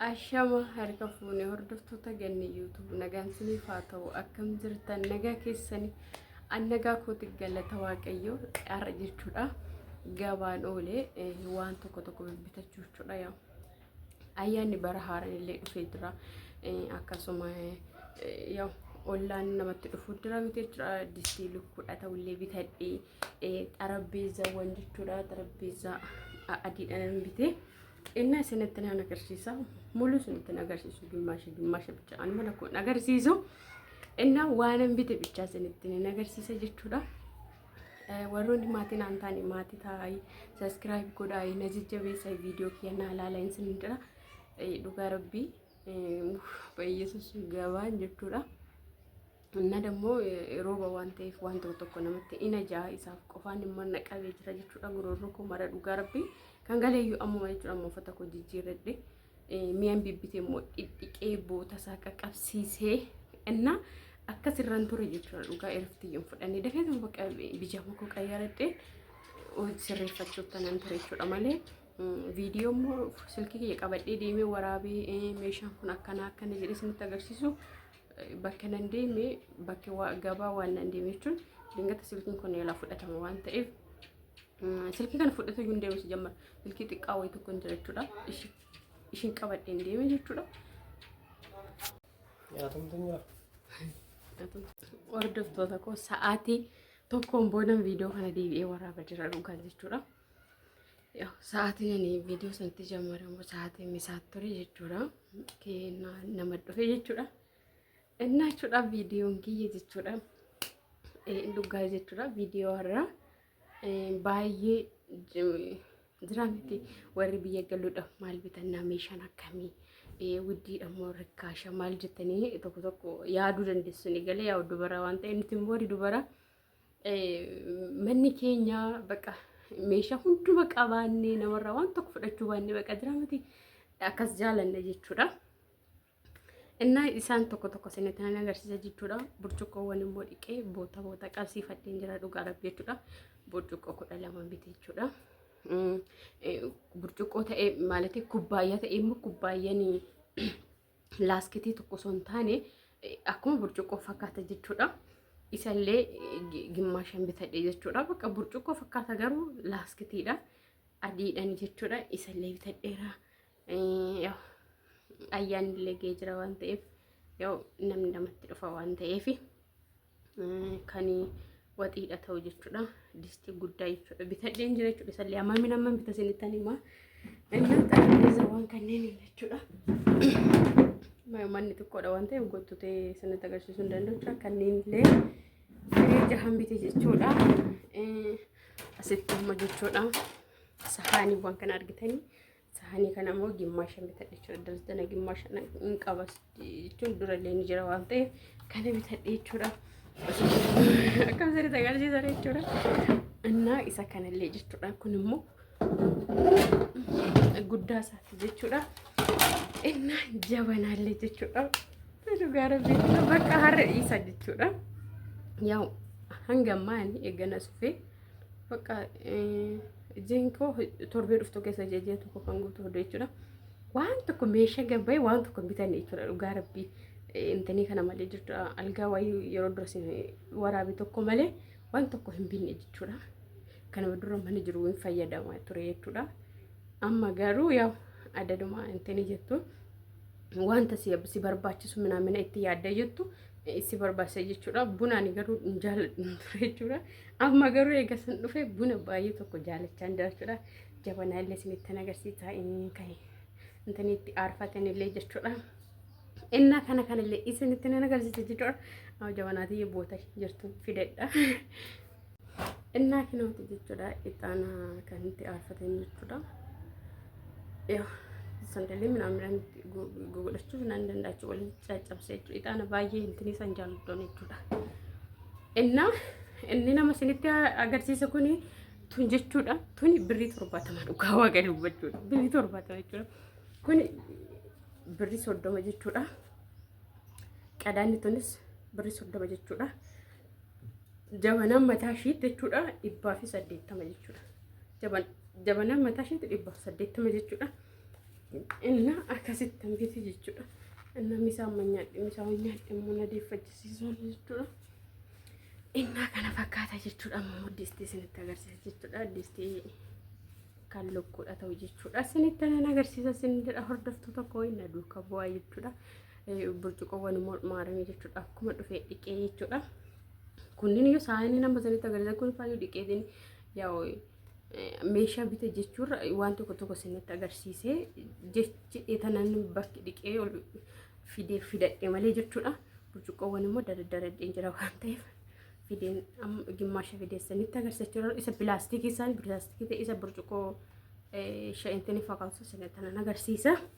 Ashama harka fuune hordoftoota ganni YouTube nagaan siniif haa ta'u akkam jirtan nagaa keessani an nagaa kooti galata waaqayyo har'a jechuudha gabaan oolee waan tokko tokko bibbitachuu jechuudha yaa ayyaanni bara haaraan illee dhufee jira akkasuma yaa ollaan namatti dhufuu jira miti jechuudha distii lukkuudha ta'ullee bitadhee xarabbeezzaawwan jechuudha. Xarabbeezzaa adiidhaan nan bite. Inni isinitti nan agarsiisa. Muluu isinitti nan agarsiisu. Gimmaasha gimmaasha bicha an mana kun agarsiisu. Inni waan an bite bichaa isinitti nan agarsiisa jechuudha. Warroonni maatiin aan taane maatii taa'ayi. Saskiraayib godhaayi. Na jajjabeessa viidiyoo kiyya naa laala isin jira. Dhugaa rabbii baay'ee sussuun gabaan jechuudha. Inna dammoo rooba waan ta'eef waan tokko tokko namatti ina ja'a isaaf qofaan immoo na qabee jira jechuudha goroorroo koo mara dhugaa rabbii kan galeeyyuu ammuma jechuudha amma uffata koo jijjiirradhe mi'an bibbite immoo dhidhiqee boota isaa qaqqabsiisee inna akkas irraan ture jechuudha dhugaa erftiyyuun fudhannee dafee tokko bakka bijaama koo qayyaradhe sirreeffachuuf tanan ture jechuudha malee viidiyoo immoo silkii kiyya qabadhee deemee waraabee meeshaan kun akkana akkana jedhee isinitti agarsiisu bakka nan deeme bakka waa- gabaa waan nan deeme jechuun dingata silkiin kun yaalaa fudhatama waan ta'eef mm, silkii kana fudhatee hin deemu sijammar silkii xiqqaa wayii tokko hin jira jechuudha Ishi- ishiin qabadhee hin deeme jechuudha hordoftoota koo sa'aatii tokkoon boodan viidiyoo kana deebi'ee waraaba jira dhugaan jechuudha Yaw, sa'aatiin ani viidiyoo sanatti jammaramu sa'aatiin misaa ture jechuudha. Keenna nama dhufe jechuudha. Innaa jechuudha viidiyoon kiyya jechuudha. Eh, Dhugaa jechuudha viidiyoo har'a eh, baay'ee j- jira miti warri biyya galuudha maal bitannaa meeshaan akkamii eh, widdiidha moo rikkaasha maal jettanii tokko tokko yaaduu dandeessu ni galee yaa dubara waan ta'e nuti immoo warri dubara manni keenya baqa meeshaa hunduma qabaannee namarraa waan tokko fudhachuu baannee baqa jira miti akkas jaalanna jechuudha. Innaa isaan tokko tokko isinitti nan agarsiisa jechuudha. Burcuqqoowwan immoo dhiqee boota boota qabsiifadheen jira dhugaa rabbi jechuudha. Burcuqqoo kudha lama miti jechuudha. Burcuqqoo ta'ee maalitii kubbaayyaa ta'ee immoo kubbaayyaa laaskitii tokko osoo hin taane akkuma burcuqqoo fakkaata jechuudha. Isallee gimmaashan bitadhe jechuudha. Bakka burcuqqoo fakkaata garuu laaskitiidha. Adiidhaan jechuudha. Isallee bitadheera. Ayyaanillee ga'ee jira waan ta'eef namni namatti dhufa waan ta'eef. kani waxiidha ta'u jechuudha. Distii guddaa jechuudha. Bitadheen jira jechuudha. Isallee amma min amma bita sinitan hima. Inni xarbeeza waan kanneen jechuudha. Manni xiqqoodha waan ta'eef gottutee sinitti agarsiisuu hin danda'u. Kanneen illee firii jahan bite jechuudha. Asitti amma jechuudha. Sahaaniiwwan kana argitanii Saanii kana immoo gimmaasha bitadhe jechuudha. Daldala gimmaasha hin qabas jechuun durallee ni jira waan ta'eef kana bitadhe jechuudha. Akkam sirriitti agarsiisa jechuudha. Innaa isa kanallee jechuudha. Kun immoo guddaa isaati jechuudha. Innaa jabanaallee jechuudha. Dhugaa rabbii bakka har'a dhiisa jechuudha. Yaa'u hanga ammaa eegana sufee bakka. Hojiin koo torbee dhuftu keessa jajjee tokko kan guutuu hodhu jechuudha. Waan tokko meeshaa gabbaa'e waan tokko bitan jechuudha dhugaa rabbii. Intanii kana malee jirtu algaa wayii yeroo dura waraabe tokko malee waan tokko hin binne jechuudha. Kanuma dura mana jiru hin fayyadama ture jechuudha. Amma garuu yaa adaduma intanii jettu wanta si barbaachisu minaa mina itti yaadda jettu si barbaachisa jechuudha. Buna ani garuu hin jaalladhu ture jechuudha. Amma garuu eega san dhufe buna baay'ee tokko jaalachaa jira jechuudha. Jabanaa illee isinitti agarsiisaa inni kan inni itti aarfatan illee jechuudha. Innaa kana kanallee isinitti agarsiisa jechuudha. Jabanaatii boota jirtu fidadha. Innaa kinooti jechuudha ixaana kan itti aarfatan jechuudha. Yaa sandalee midhaan godhachuu hin danda'achu waliin caccabse jechuudha. Ixaana baay'ee hintinii san jaalladhoon jechuudha. Innaa inni nama isinitti agarsiisa kuni tun jechuudha. Tuni birrii torbaatama dhugaa waaqa dubbachuudha. Birrii torbaatama jechuudha. Kuni birrii soddoma jechuudha. Qadaanni tunis birrii soddoma jechuudha. jabanaan mataa ishiitti jechuudha dhibbaa fi saddeettama jechuudha. Jabanaan mataa ishiitti dhibbaa fi saddeettama jechuudha. Inna akkasitti hambiti jechuudha. Inna misaa amma nyaadhe misaa waan nyaadhe immoo na deeffachisiisuun jechuudha. Inna kana fakkaata jechuudha. Amma immoo distii isinitti agarsiisa jechuudha. Distii kan lukkuudha ta'u jechuudha. Isinitti nan agarsiisa isin jedha hordoftoota koo inna duuka bu'aa jechuudha. burcuqoowwan mormaa arame jechuudha akkuma dhufee dhiqee jechuudha kunniin yoo saayinii nama sanitti agarsiisa kun faayyoo dhiqeetiin yaa'u meeshaa bita jechuurra waan tokko tokko sinitti agarsiisee jechi etanan bakki dhiqee ol fidee fidadhe malee jechuudha burcuqqoowwan immoo dadaddaradheen jira waan ta'eef fideen gimmaasha fidee sinitti agarsiisa isa pilaastikii isaan pilaastikii ta'e isa burcuqqoo sha'intiin fakkaatu sinitti agarsiisa.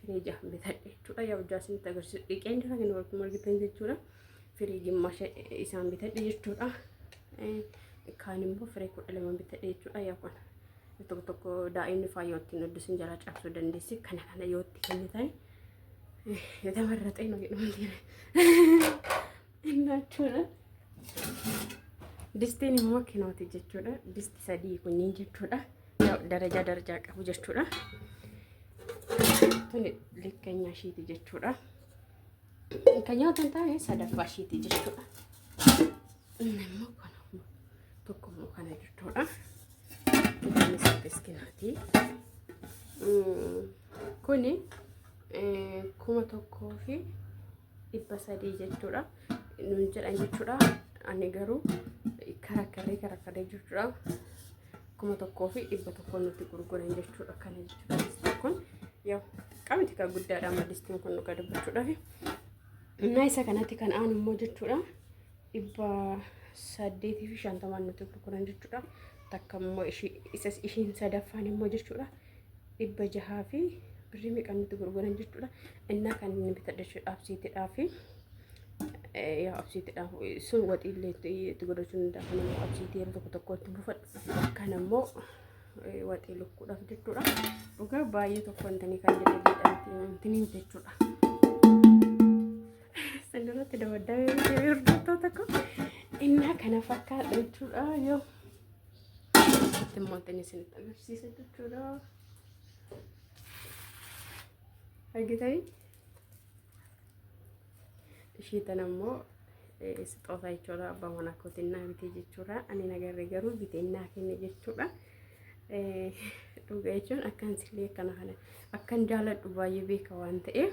firiija bitadhe jechuudha. Yaa hojjaa isinitti agarsiisu dhiqeen jira kan walitti argitan jechuudha. Firiiji masha isaan bitadhe jechuudha. Kaan immoo firee kudha lama bitadhe jechuudha. Yaa kun tokko tokko daa'imni faayoo ittiin hojjesin jala cabsuu dandeessi. Kana kana yoo itti kennitan yoo tamarratee nu jedhamu Innachuudha. Distiin immoo kinooti jechuudha. Disti sadii kunniin jechuudha. Darajaa darajaa qabu jechuudha. Tuni likkeenyaa ishiiti jechuudha. Kan nyaatan taa'ee sadaffaa ishiiti jechuudha. Inni immoo kana tokko immoo kana jechuudha. Inni saddees kinaati. Kuni kuma tokkoo fi dhibba sadii jechuudha nuun jedhan jechuudha ani garuu karakkarree karakkarree jechuudha kuma tokkoo fi dhibba tokko nuti gurguran jechuudha kana jechuudha distiin kun yoo qabiti kan guddaadha amma distiin kun dhuga dubbachuudhaaf innaa isa kanatti kan aanu immoo jechuudha dhibba saddeetii fi shantamaan nuti gurguran jechuudha takka immoo ishiin sadaffaan immoo jechuudha dhibba jahaa fi birrii meeqaan nutti gurguran jechuudha. Innaa kan inni bitadha jechuudha absiitidhaa fi yaa absiitidhaa sun waxiillee itti godhachuu danda'a. Kan immoo absiitii yeroo tokko tokkotti buufadhu. Kan immoo waxii lukkuudhaaf jechuudha. Dhugaa baay'ee tokko wantanii kan jedhanii jechuudha. Sanirratti dabaddamee hordoftoota koo innaa kana fakkaata jechuudha yoo. Asitti immoo kan isinitti agarsiisa jechuudha. Argitanii? Ishii tana immoo sixootaa jechuudha. Abbaa manaa kootiin naa bitee jechuudha. Ani nagarree garuu bitee naa kenne jechuudha. Dhugaa jechuun akkan sillee akkana kana akkan jaaladhu baay'ee beeka waan ta'eef.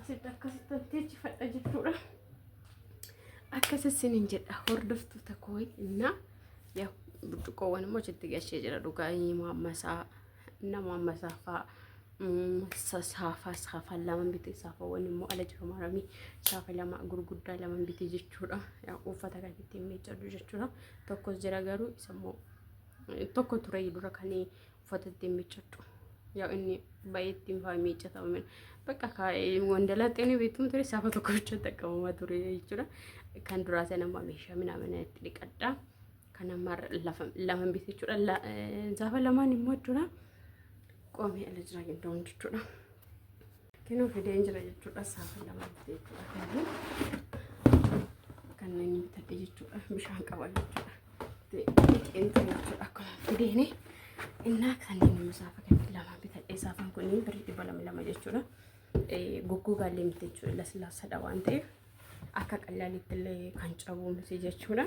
asitti akkasittan teechifadha jechuudha. Akkas isinin jedha hordoftoota koo innaa yaa burcuqqoowwan immoo achitti gashee jira dhugaa himaa ammasaa nama ammasaa fa'aa. saafaa saafaa lama bitee saafaawwan immoo ala jiru maramii saafa lama gurguddaa lama bitee jechuudha uffata kan ittiin miiccadhu jechuudha tokkos jira garuu isa immoo tokko ture dura kan uffata ittiin miiccadhu. Yaa inni baay'ee ittiin faa miiccatama. Bakka wandalaatti inni beektuun ture saafa tokko bicha xaqqabama ture jechuudha. Kan duraa sana amma meeshaa minamina itti dhiqadha. Kan amma lama bite jechuudha. Saafa lamaan immoo jechuudha. Qoomee ala jiraa gidduun jechuudha. Kinoo fideen jira jechuudha. Saafan lama bitee jechuudha. Kanneen kanneen bitadhe jechuudha. Bishaan qaba jechuudha. Fixeen ta'e jechuudha. Akkuma fideene innaa kanneen immoo saafa kanneen lama bitadhe. Saafan kunniin birrii dhibba lama lama jechuudha. Goggogaa illee miti jechuudha. Laslaasadha waan ta'eef akka qallaalitti illee kan cabu miti jechuudha.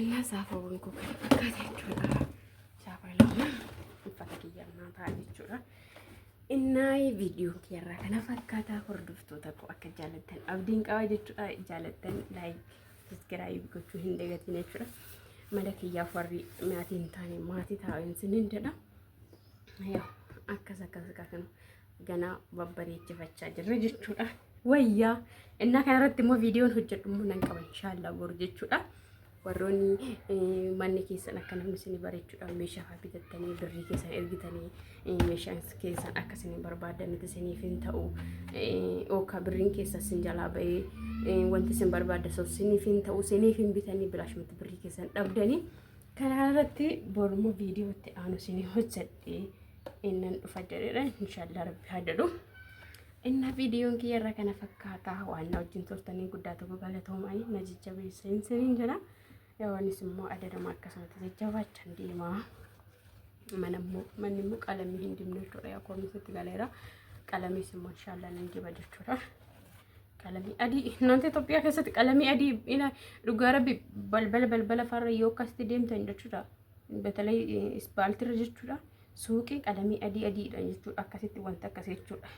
Illaa saafaawwan koo kan akkas jechuudha. Saafaawwan uffata kiyyaa naa ta'a jechuudha. Innaayi viidiyoon kiyarraa kana fakkaataa hordoftoota koo akka jaalattan abdiin qaba jechuudha. Jaalattan laayik saskiraayib gochuu hin dagatiin jechuudha. Mala kiyyaaf warri maatii hin taane maatii taa'een sinin jedha. akkas akkas kan ganaa babbareechifachaa jirra jechuudha. Wayyaa innaa kana irratti immoo viidiyoon hojjedhu immoo nan qaba inshaallah boru jechuudha. Warroonni manni keessan akka namni isin bareechuudhaan meeshaa fa'aa bitattanii birrii keessan ergitanii meeshaan keessan akka isin barbaadanitti isiniif hin ta'u yookaan birriin keessa isin jalaa ba'ee wanti isin barbaadda sosiniif hin ta'u isiniif hin bitanii bilaashumatti birrii keessan dhabdanii. Kanaa irratti boruma viidiyoo itti aanu isin hojjedhe innan dhufa jedhedha. Inshaallah rabbi haa jedhu. Inna viidiyoon kiyya irra kana fakkaata waan na wajjin turtanii guddaa tokko galatoomanii na jajjabeessa hin siniin jedha. Yawaanis immoo adadama akkasumatti jajjabaachan deema. Mana immoo manni immoo qalamii hin dibne jechuudha. Yaa koornis itti galeera. Qalamis immoo inshaallah nan diba jechuudha. Qalamii adii naannoo Itoophiyaa keessatti qalamii adii dhugaa rabbi balbala balbala farra yoo akkasitti deemtan jechuudha. Batalee ispaaltirra jechuudha. Suuqii qalamii adii adiidha jechuudha. Akkasitti wanta akkasii jechuudha.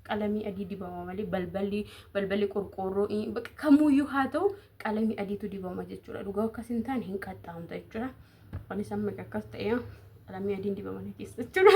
Qalamii adii dibama malee balballi balballi qorqoorroo bakka kamuyyuu haa ta'u qalamii adiitu dibama jechuudha. Dhugaa akkas hin taane hin qaxxaamta jechuudha. Anis amma akkas ta'ee qalamii adiin dibama na keessa jechuudha.